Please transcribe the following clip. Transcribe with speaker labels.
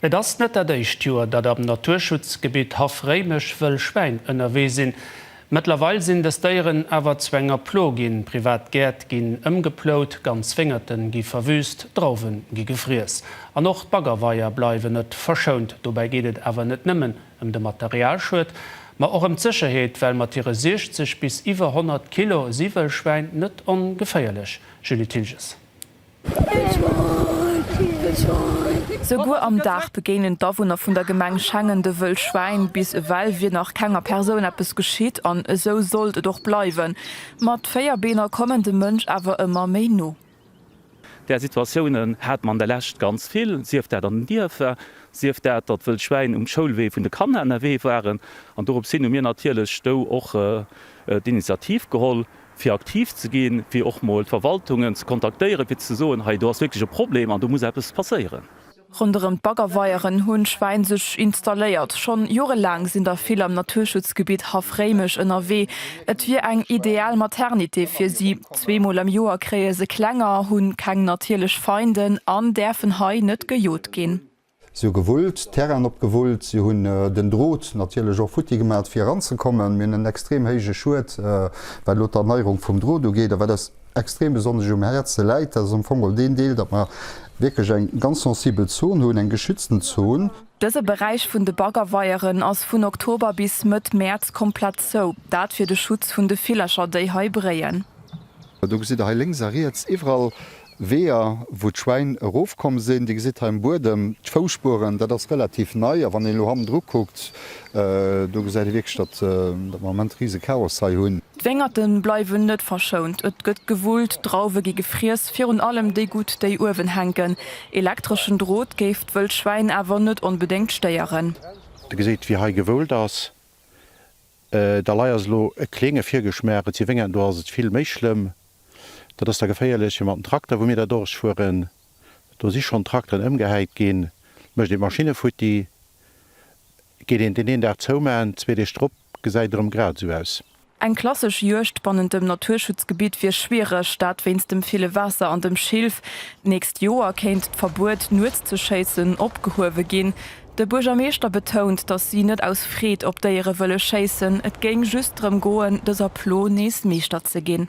Speaker 1: Et ass net dat éischt Joer, datt am Naturschutzgebitt Haff Réimech wëll Schwäin ënnerwee sinn. Mëttlerweil sinn dës Déieren awer zu enger Plo ginn. Privat Gäert ginn ëmgeplout, ganz Wéngerte gi verwüüst, Drauwen gi gefriess an och d'Baggerweier bleiwen net verschount. Dobäi geet et awer net nëmmen ëm de Materialschued, ma och ëm d'Sécherheet, well mat hire 60 bis iwwer 100 Kilo si wëll Schwäin net ongeféierlech. Julie Thilges.
Speaker 2: Souguer am Dag begéinen d'Awunner vun der Gemeng Schengen de Wëllschwäin. Bis ewell wier nach kenger Persoun eppes geschitt an esou sollt et och bleiwen. Ma d'véier Beener kommen dem Mënsch awer ëmmer méi no. Där
Speaker 3: Situatiounen hate mer an der Lescht ganz vill, sief dat an den Dierfer, sief dat, datt d'Wëllschwäin um Schoulwee vun de Kanner ënnerwee waren. An dorops hin hu mir natierlech do och d'Initiativ geholl, fir aktiv ze ginn, fir och mol d'Verwaltungen ze kontaktéieren, fir ze soen, hei do ass wierklech e Problem an do muss eppes passéieren. Ronderëm
Speaker 2: d'Baggerweieren hunn d'Schwäin sech installéiert. Schonn jorelaang sinn der vill am Naturschutzgebitt Haff Réimech ënnerwee. Et wier eng ideal Maternité fir si. Zweemol am Joer kréie se Klenger, hunn keng natierlech Feinden an däerfen hei net gejot ginn. Si hu gewullt,
Speaker 4: Terrainen opgewullt, si hunn den Drot natierlech och futti gemaat fir eran ze kommen. Mir hunn en extrem héije Schued wat elo d'Erneierung vum Drot ugeet. A wat eis extrem besonnesch um Häerze läit, dat ass am Fong geholl deen Deel, datt mer wierklech eng ganz sensibel Zon hunn, eng geschützten Zon. Dëse Beräich
Speaker 2: vun de Baggerweieren ass vun Oktober bis Mëtt Mäerz komplett zou, dat fir de Schutz vun de Villercher déi hei bréien. Do gesitt
Speaker 4: Der hei lénks a riets iwwerall Weeër, wou d'Schwäin erofkomm sinn. Dir gesitt hei um Buedem d'Fousspueren. Dat ass relativ nei. A wann een elo hannendru kuckt, do gesäit ee wierklech, datt mer am Moment rise Chaos hei hunn. D'Wéngerte bleiwen
Speaker 2: net verschount. Et gëtt gewullt, Drauwe gi gefriess, virun allem déi gutt, déi uewen hänken. Elektreschen Drot géif d'wëll Schwäin awer net onbedéngt stéieren. Dir gesitt, wéi
Speaker 5: hei gewoult ass. D'Dalei ass elo e kleenge Virgeschmaach, et si Wéngern, do ass et vill méi schlëmm. Dat ass da geféierlech, fir mat den Trakter, wou mir da duerchfueren, do si schonn Trakteren ëmgehäit ginn, mécht een d'Maschinne futti, geet een deen een Dag zoumaachen, zwee Deeg drop gesäit erëm grad esou aus. Eng klassesch
Speaker 2: Juegd bannent dem Naturschutzgebitt wier schwiereg, dat wéinst dem ville Waasser an dem Schilf. D'nächst Joer kéint d'Verbuet, nuets ze schéissen, opgehuewe ginn. De Buergermeeschter betount, datt si net aus Freed op Déiere wëlle schéissen, et géing just drëm goen, dëser Plo nees Meeschter ze ginn.